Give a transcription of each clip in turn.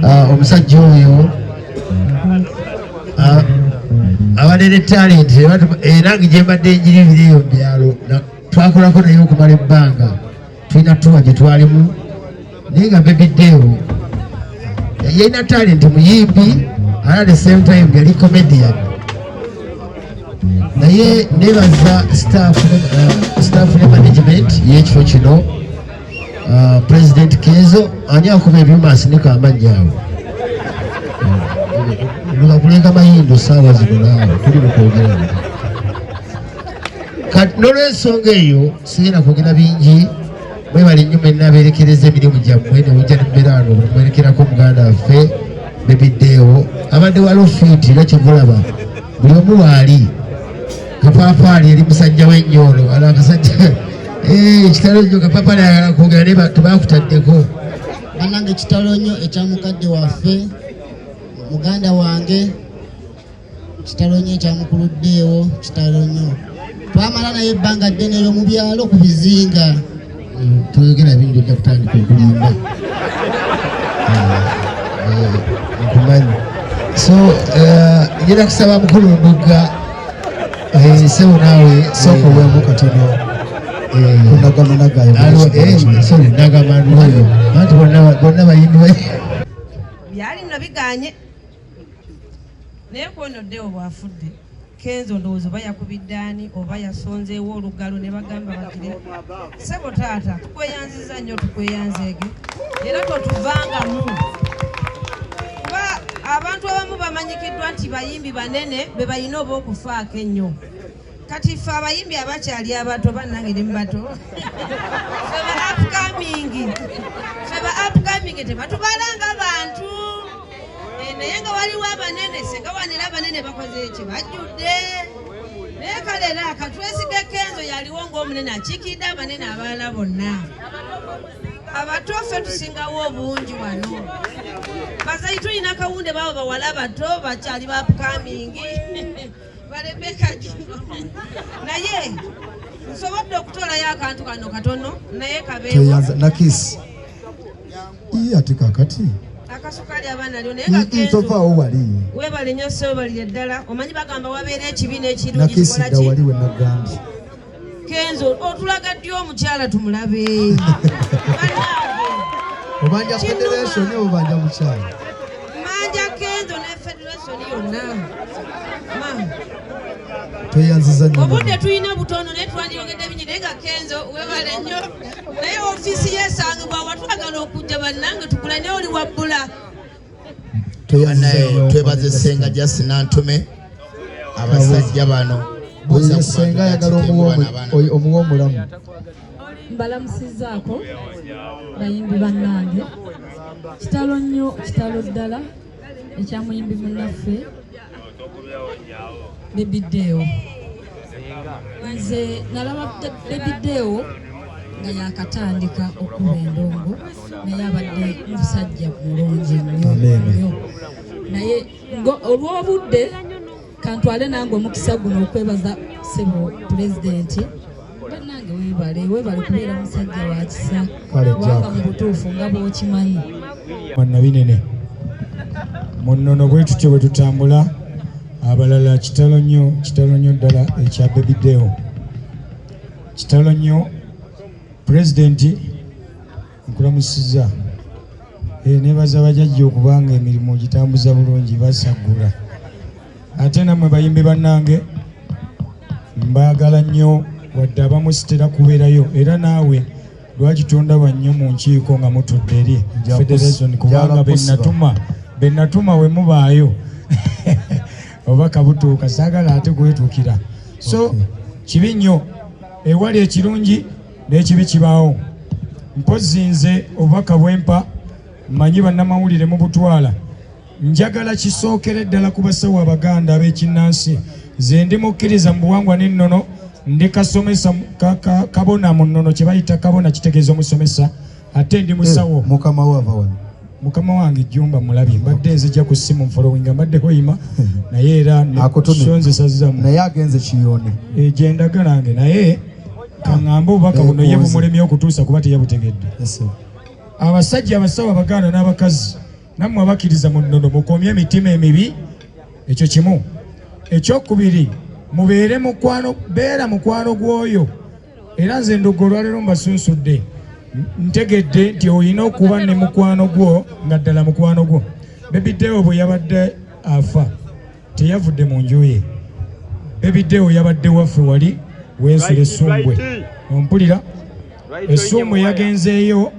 Ah, omusajja oyo ah, abalere talent era eh, gyembadde enjiri ebiri eyo mubyalo twakolako naye okumala ebbanga tulina tuba gyetwalimu naye nga bebideewo yalina talent muyimbi ara the same time yali comedian naye nebaza staff eh, ne management yekifo kino Uh, President Kenzo ani akuba ebyuma asinika amannya awo lula kulenga mayindo saawa zino naawe tuli mukwogera kati nolwensonga eyo sigenda kwogera bingi mwebale nnyo mwenna abeerekereza emirimu gyammwe newujja nembeeraano mwerekerako muganda waffe bebideewo abadde walofiiti era kyegulaba buli omu waali kapaapaali eri musajja we nnyo ono ala akasajja eh, kitalo nnyo kapaapaali ayagala kwogera naye tebakutaddeko banange kitalo nnyo ekya mukadde waffe muganda wange kitalo nnyo ekya mukulu ddeewo kitalo nnyo twamala naye ebbanga ddene eyo mu byalo ku bizinga toyogera bingi ojja kutandika okulimba nkumanyi so njera kusaba mukulu ndugga sebo naawe sooka owemu katono kunagamanagayonagamanoyo anti bonna bayimbi byali nno biganye naye kwonoddewo bwafudde Kenzo ndowooza oba yakubidde ani oba yasonzeewo olugalo ne bagamba bagire sebo taata tukweyanziza nnyo tukweyanzeege era totuvangamu kuba abantu abamu bamanyikiddwa nti bayimbi banene be balina oba okufaako ennyo kati ffe abayimbi abakyali abato bannange ne mubato fe ba upcoming fe ba upcoming tebatubalanga bantu Eh, naye nga waliwo abanene singa wanira abanene bakoze eki bajjudde naye kale era katwesige kenzo yaliwo ngaomunene akiikidde abanene abalala bonna abato ffe tusingawo obungi wano bazayi tulina kawunde babo bawala abato bakyali bapukamingi balebeka kino naye nsobodde okutolayo akantu kano katono naye kabeewo Ii ate kakati akasukaali abaana lyo naye gagentovaawo wali webale nyo sewebalire ddala omanyi bagamba wabeera ekibi n'ekirungiwali we nagambye kenzo otulaga ddi omukyala tumulabe obanja federation obanja mukyala manja kenzo ne federation yonna tweyanziza nyo obudde tulina butono naye twandiyongedde bingi naye nga kenzo webale nyo naye ofiisi yesangibwa watwagala okujja bannange tukula naye oli wabbula twebaze senga jasi nantume abasajja bano senga ayagala omuwa omulamu mbalamusizaako bayimbi bannange kitalo nnyo kitalo ddala ekya muyimbi munnaffe Baby Deo. Nze nalaba Baby Deo nga yakatandika okuba endongo naye abadde musajja mulungi nnyo naye olw'obudde kantwale nange omukisa guno okwebaza sebo pulezidenti banange webale webale kubeera musajja wa kisa kubanga mu butuufu nga bwokimanyi mannabinene munnono bwe tutyo bwe tutambula abalala kitalo nnyo kitalo nnyo ddala ekya bebideo kitalo nnyo pulezidenti nkulamusiza e, eh, nebaza bajajja okubanga emirimu gitambuza bulungi basaggula ate namwe bayimbi bannange mbaagala nnyo wadde abamu sitera kubeerayo era naawe lwaki tondaba nnyo mu nkiiko nga mutudde eri federation kubanga benatuma benatuma we mubaayo oba kabutuuka saagala ate kwetuukira so kibi nnyo ewali ekirungi n'ekibi kibaawo mpozzi nze obubaka bwempa mmanyi bannamawulire mu butwala njagala kisookere ddala ku basawo abaganda ab'ekinnansi nze ndi mukkiriza mu buwangwa n'ennono ndi kasomesa kabona mu nnono kye bayita kabona kitegeeza omusomesa ate ndi musawo eh, mukama wava wano mukama wange jumba mulabye mbadde nzija ku simu mfolowinga mbadde hoyima eh. naye era sonzesazzamu naye agenze kiyone eh, gyendaga nange naye kaŋŋambe obubaka buno ye bumulemye okutuusa kuba teyabutegedde abasajja abasawo abaganda n'abakazi nammwe abakiriza mu nnono mukomye emitima emibi ekyo kimu ekyokubiri mubeere mukwano beera mukwano gw'oyo era nze ndugga olwaleero mbasunsudde ntegedde nti olina okuba ne mukwano gwo nga ddala mukwano gwo bebidewo bwe yabadde afa teyavudde mu nju ye bebidewo yabadde waffe wali weesula essumbwe ompulira essumbwe yagenzeeyo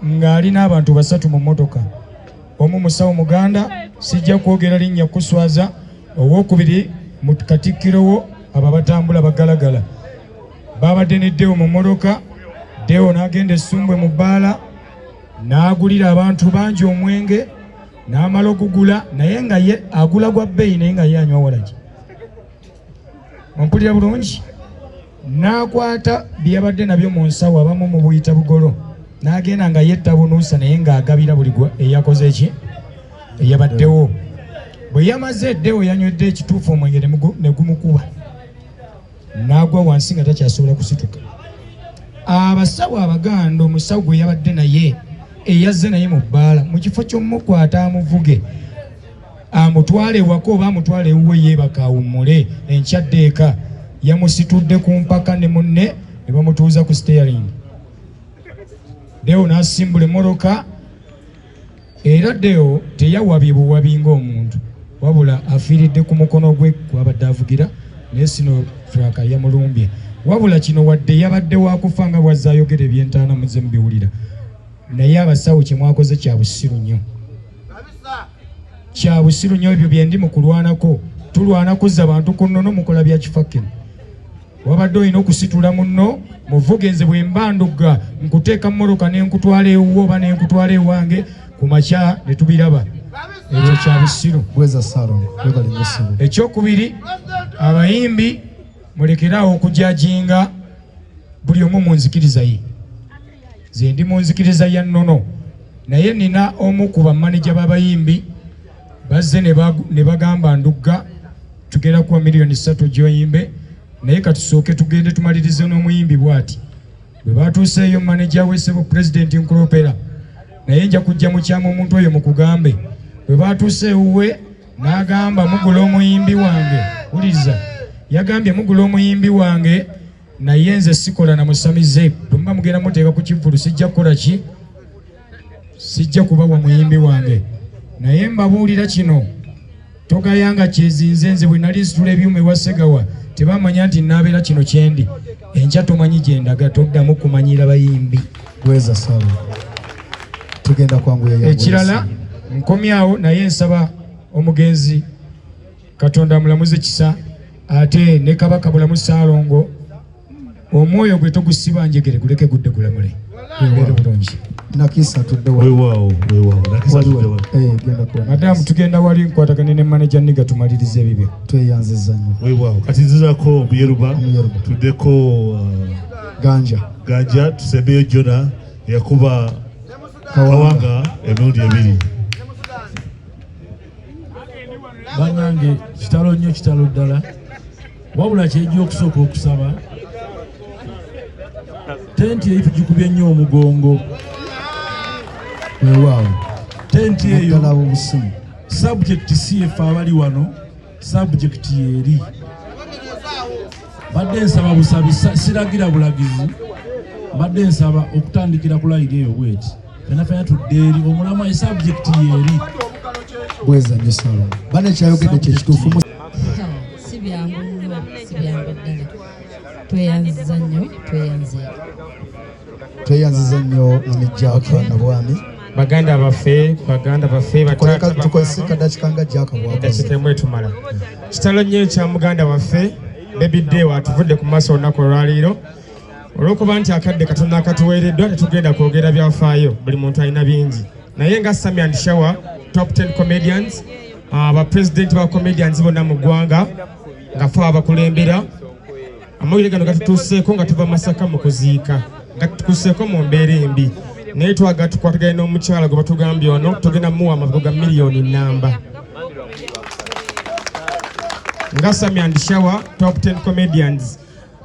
ng'ali n'abantu basatu mu mmotoka Omu musawo muganda sijja kwogera linnya kuswaza. Owokubiri mu katikkiro wo abo abatambula bagalagala baabadde ne Deo mu mmotoka. Deo n'agenda essumbwe mu bbaala n'agulira abantu bangi omwenge n'amala okugula naye nga ye agula gwa bbeeyi naye nga ye anywa walagi. Ompulira bulungi? n'akwata bye yabadde nabyo mu nsawo abamu mu buyita bugolo n'agenda nga yetta bunuusa naye ng'agabira buli gwe eyakoze ki eyabaddewo bwe yamaze eddewo yanywedde ekituufu omwenge ne gumukuba n'agwa wansi nga takyasobola kusituka abasawo abaganda omusawo gwe yabadde naye eyazze naye mu bbaala mu kifo ky'omukwata amuvuge amutwale ewaka oba amutwale ewuwe yeebaka awummule enkya dde eka yamusitudde ku mpaka ne munne ne bamutuuza ku steering deo n'asimbula emmoloka era deo teyawabye buwabi ng'omuntu wabula afiiridde ku mukono gwe gwabadde avugira naye sino traka yamulumbye wabula kino wadde yabadde wakufa nga bwazze ayogera ebyentaana muze mubiwulira naye abasawo kyemwakoze kya busiru nnyo kya busiru nyo ebyo byendi mu kulwanako tulwana kuzza bantu ku nnono mukola bya kifakino wabadde olina okusitula munno muvuge nze bwe mba ndugga nkuteeka mmoloka ne nkutwala ewuwo oba ne nkutwala ewange ku makya ne tubiraba ekyo kya busiru ekyokubiri abayimbi mulekeraawo okujajinga buli omu mu nzikiriza ye Nze ndi mu nzikiriza ya nnono naye nina omu ku bamaneja b'abayimbi bazze ne bagamba ndugga tugenda kuwa miliyoni ssatu gy'oyimbe naye katusooke tugende tumalirize n'omuyimbi bw'ati bwe baatuuseeyo maneja wesebo pulezidenti nkulopera naye nja kujja mukyama omuntu oyo mukugambe bwe baatuuse ewuwe n'agamba mugula omuyimbi wange wuliriza yagambye mugula omuyimbi wange naye nze sikola na musamize bwemuba mugenda muteeka ku kivulu sijja kukola ki sijja kubawa muyimbi wange naye mbabuulira kino togayanga kyezinze nze bwe nali nsitula ebyuma ewa segawa tebamanya nti naabeera kino kyendi enkya tomanyi gye ndaga toddamu kumanyira bayimbi bweza sala tugenda kwanguya ekirala nkomyawo naye nsaba omugenzi katonda amulamuze kisa ate ne kabaka bulamu saalongo omwoyo gwe togusiba njegere guleke gudde gulamule era bulungi madamu tugenda wali nkwatagane ne maneja niga tumaliriza ebibyo tweyanziza nyo kati nzizako omuyeruba tuddeko uh, ganja ganja tusembeyo jona yakuba kawanga emirundi ebiri banange kitalo nnyo kitalo ddala wabula kyejja okusooka okusaba tenti eyo tugikubye nnyo omugongo wewaawo tenti eyo sabjekiti si efe abali wano sabjekiti yeeri mbadde nsaba busabi siragira bulagizi mbadde nsaba okutandikira ku layiri eyo bweti fenafena tudde eri omulamu e sabjekiti yeeri bweza nyo salo bana ekyayogedde kyekituufu si byangu nnyo si byangu ddala tweyanziza nnyo tweyanzeeko tweyanziza nnyo namijjaaka nabwami baganda baffe baganda baffe bataatabakoesikadakikangajjakabwakitemu etumala kitalo nnyo ekya muganda waffe bebiddeewo atuvudde ku maaso olunaku olwaleero olwokuba nti akadde katonda akatuweereddwa tetugenda kwogera byafaayo buli muntu alina bingi naye nga sami and shower top 10 comedians abapresidenti ah, ba comedians bonna mu ggwanga nga fe abakulembera Amawulire gano gatutuuseeko nga tuva Masaka mu kuziika gatutuuseeko mu mbeera embi naye twagala tukwatagane n'omukyala gwe batugambye ono tugenda muwa amavugo ga miliyoni nnamba nga sami and shower top 10 comedians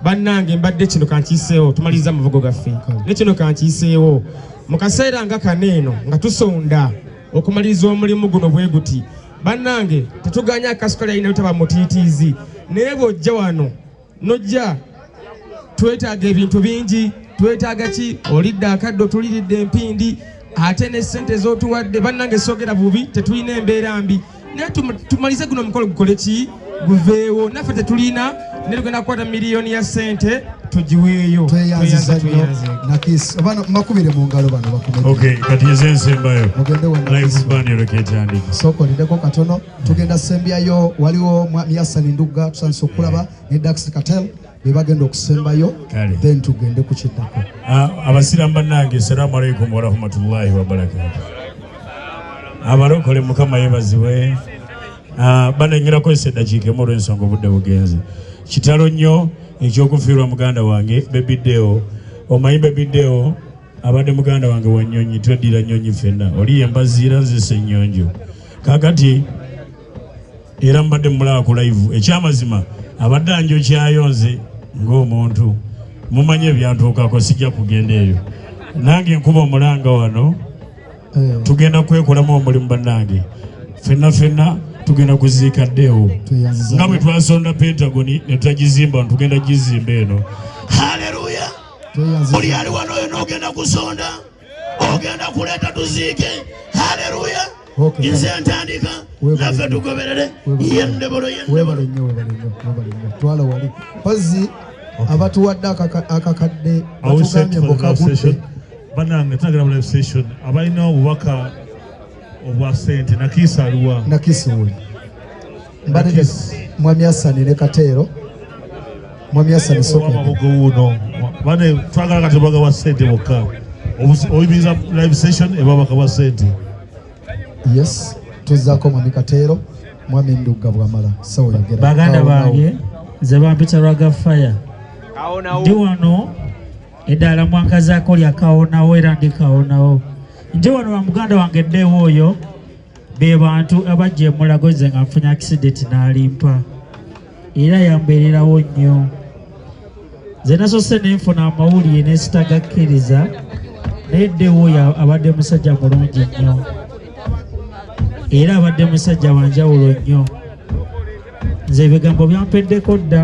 bannange mbadde kino kankiiseewo tumaliriza amavugo gaffe ne kino kankiiseewo mu kaseera nga kano eno nga tusonda okumaliriza omulimu guno bwe guti bannange tetuganya akasukali alina lutaba mutiitiizi naye bw'ojja wano nojja twetaaga ebintu bingi twetaaga ki olidde akaddo tuliridde empindi ate ne ssente z'otuwadde bannange soogera bubi tetulina embeera mbi naye tumalize guno omukolo gukole ki guveewo naffe tetulina ne tugenda kukwata miliyoni ya sente tugiweeyo tweyanziza nnyo nakis abaana makubire mu ngalo bano bakume kati eze nsembayo mugende wanaekyandiki sooka olindeko katono tugenda sembyayo waliwo mwami yasani ndugga tusandisa okulaba ne dax katel bebagenda okusembayo then tugende ku kiddako ah, abasiramu bannange assalamu alaikum warahmatullahi wabarakatu abalokole mukama yebazibwe Ah, bananyirako eseddakiika emu olw'ensonga obudde bugenze kitalo nnyo ekyokufiirwa muganda wange bebiddeo omanyi bebiddeo abadde muganda wange wa nnyonyi tweddira nnyonyi fenna oli yembaziira nzisa ennyonjo kakati era mubadde mumulaba ku laivu ekyamazima abadde anjokyayo nze ng'omuntu mumanyi ebyantuukako sijja kugenda eyo nange nkuba omulanga wano eh. tugenda kwekolamu omulimu bannange fenna fenna tugenda kuziika ddeewo nga bwe twasonda pentagoni ne tutagizimba tugenda gizimba eno haleluya buli ali wano oyo n'ogenda kusonda ogenda kuleeta tuziike haleluya nze ntandika naffe tugoberere yendebolo yendebolo wali mpazzi abatuwadde akakadde batugambye mbukagudde banange tunagenda mu live session abalina obubaka obwa sente nakiisa aliwa nakiisi wuli mbanege mwami asani ne kateero mwami asani sokomabugo wuno bane twagala kati obaga bwa sente bokka oyimiriza live session ebabaka bwa sente yes tuzaako mwami kateero mwami ndugga bwamala sawoyogera baganda bange nze bampita rwaga fire ndi wano eddaala mwankazaako lyakawonawo era ndikawonawo nje wano wa muganda wange ddeewo oyo be bantu abajja emulago nze nga nfunye akisidenti n'alimpa era yambeererawo nnyo nze nasose nenfuna amawulire nesitagakkiriza naye ddeewo oyo abadde musajja mulungi nnyo era abadde musajja wanjawulo nnyo nze ebigambo byampeddeko dda